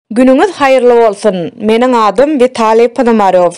Günüňiz haýyrly bolsun! Meniň adym Witaliý Ponomarýow.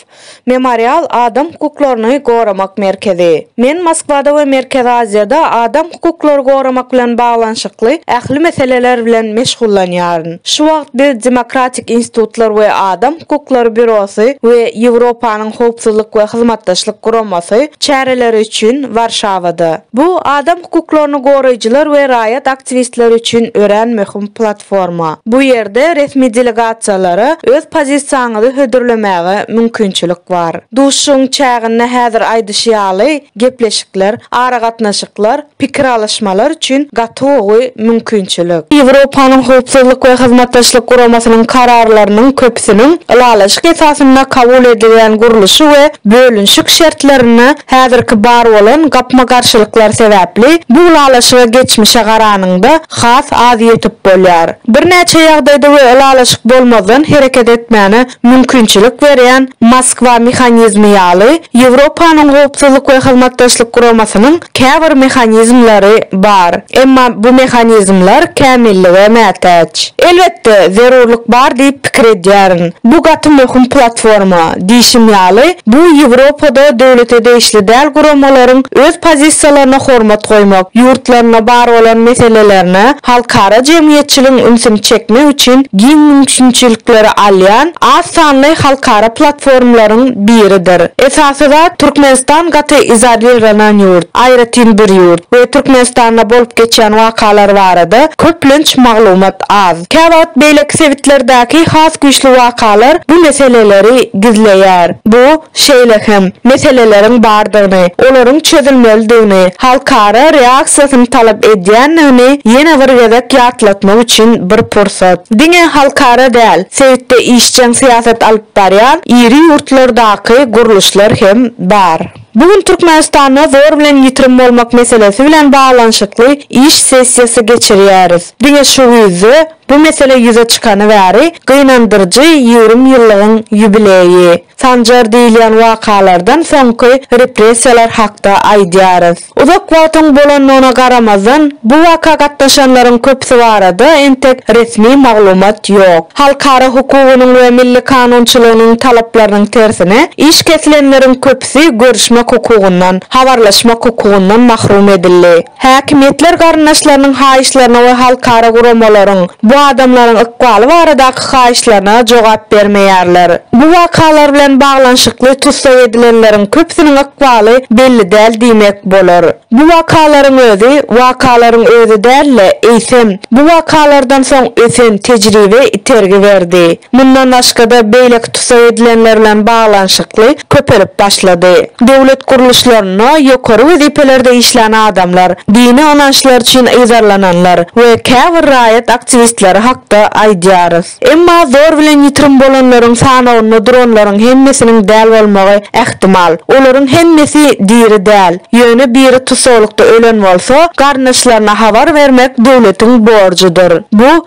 Memorial adam hukuklaryny goramak merkezi. Men Moskwada we Merkezi Aziýada adam hukuklary goramak bilen baglanyşykly ähli meseleler bilen meşgullanýaryn. Şu wagt biz Demokratik institutlar we adam hukuklary býurosy we Ýewropanyň Howpsuzlyk we Hyzmatdaşlyk guramasy çäreleri üçin Warşawada. Bu adam hukuklaryny goraýjylar we raýat aktiwistleri üçin örän möhüm platforma. Bu ýerde resmi delegasiýalara öz pozisiýaňyzy hödürlemäge mümkinçilik bar. Duşuşygyň çäginde häzir aýdyşy ýaly, gepleşikler, aragatnaşyklar, pikir alyşmalar üçin gaty gowy mümkinçilik. Ýewropanyň Howpsuzlyk we Hyzmatdaşlyk Guramasynyň kararlarynyň köpüsiniň ylalaşyk esasynda kabul edilýän gurluşy we bölünişik şertlerinde häzirki bar bolan gapma-garşylyklar sebäpli bu ylalaşyga geçmişe garanyňda has az ýetip bolýar. Birnäçe ýagdaýda we ylalaşyk bolmazdan hereket etmäne mümkinçilik berýän Moskwa mehanizmi ýaly, Ýewropanyň Howpsuzlyk we Hyzmatdaşlyk Guramasynyň käbir mehanizmleri bar. Emma bu mehanizmler kämillige mätäç. Elbetde, zerurlyk bar diýip pikir edýärin. Bu gaty möhüm platforma. Diýşim ýaly, bu Ýewropada döwlete degişli däl guramalaryň öz pozisiýalaryna hormat goýmak, ýurtlarynda bar bolan meselelerine halkara jemgyýetçiligiň ünsüni çekmek üçin giň mümkinçilikleri alýan az sanly halkara platformlaryň biridir. Esasy zat, Türkmenistan gaty izolirlanan ýurt, aýratyn bir ýurt we Türkmenistanda bolup geçýän wakalar barada köplenç maglumat az. Käwagt beýleki sebitlerdäki has güýçli wakalar bu meseleleri gizleýär. Bu, şeýle hem meseleleriň bardygyny, olaryň çözülmelidigini, halkara reaksiýasyny talap edýändigini ýene bir gezek ýatlatmak üçin bir pursat. Diňe halkara däl, sebitde işjeň syýasat alyp barýan iri ýurtlardaky gurluşlar hem bar. Bu gün Türkmenistanda zor bilen ýitirim bolmak meselesi bilen baglanyşykly iş sessiýasy geçirýäris. Diňe şu güýzde bu mesele ýüze çykany bäri gynandyryjy ýigrimi ýyllygyň ýubileýi. Sanjar diýilýän wakalardan soňky repressiýalar hakda aýdýarys. Uzak wagtyň bolandygyna garamazdan, bu waka gatnaşanlaryň köpüsi barada entek resmi maglumat ýok. Halkara hukugynyň we milli kanunçylygynyň talaplarynyň tersine, iş kesilenleriň köpüsi görüşmek hukugyndan, habarlaşmak hukugyndan mahrum edildi. Häkimiýetler garyndaşlarynyň haýyşlaryna we halkara guramalaryň bu adamlaryň ykbaly baradaky haýyşlaryna jogap bermeýärler. Bu wakalar bilen baglanyşykly tussag edilenleriň köpüsiniň ykbaly belli däl diýmek bolar. Bu wakalaryň özi wakalaryň özi däl-de, eýsem, bu wakalardan soň ösen tejribe itergi berdi. Mundan başga-da beýleki tussag edilenler bilen baglanyşykly köpelip başlady. Döwlet gurluşlarynda, ýokary wezipelerde işlän adamlar, dini ynançlar üçin yzarlananlar we käbir raýat aktiwistleri hakda aýdýarys. Emma zor bilen ýitirim bolanlaryň sanawynda duranlaryň hemmesiniň däl bolmagy ähtimal. Olaryň hemmesi diri däl. Ýöne biri tussaglykda ölen bolsa, garyndaşlaryna habar bermek döwletiň borjudyr. Bu,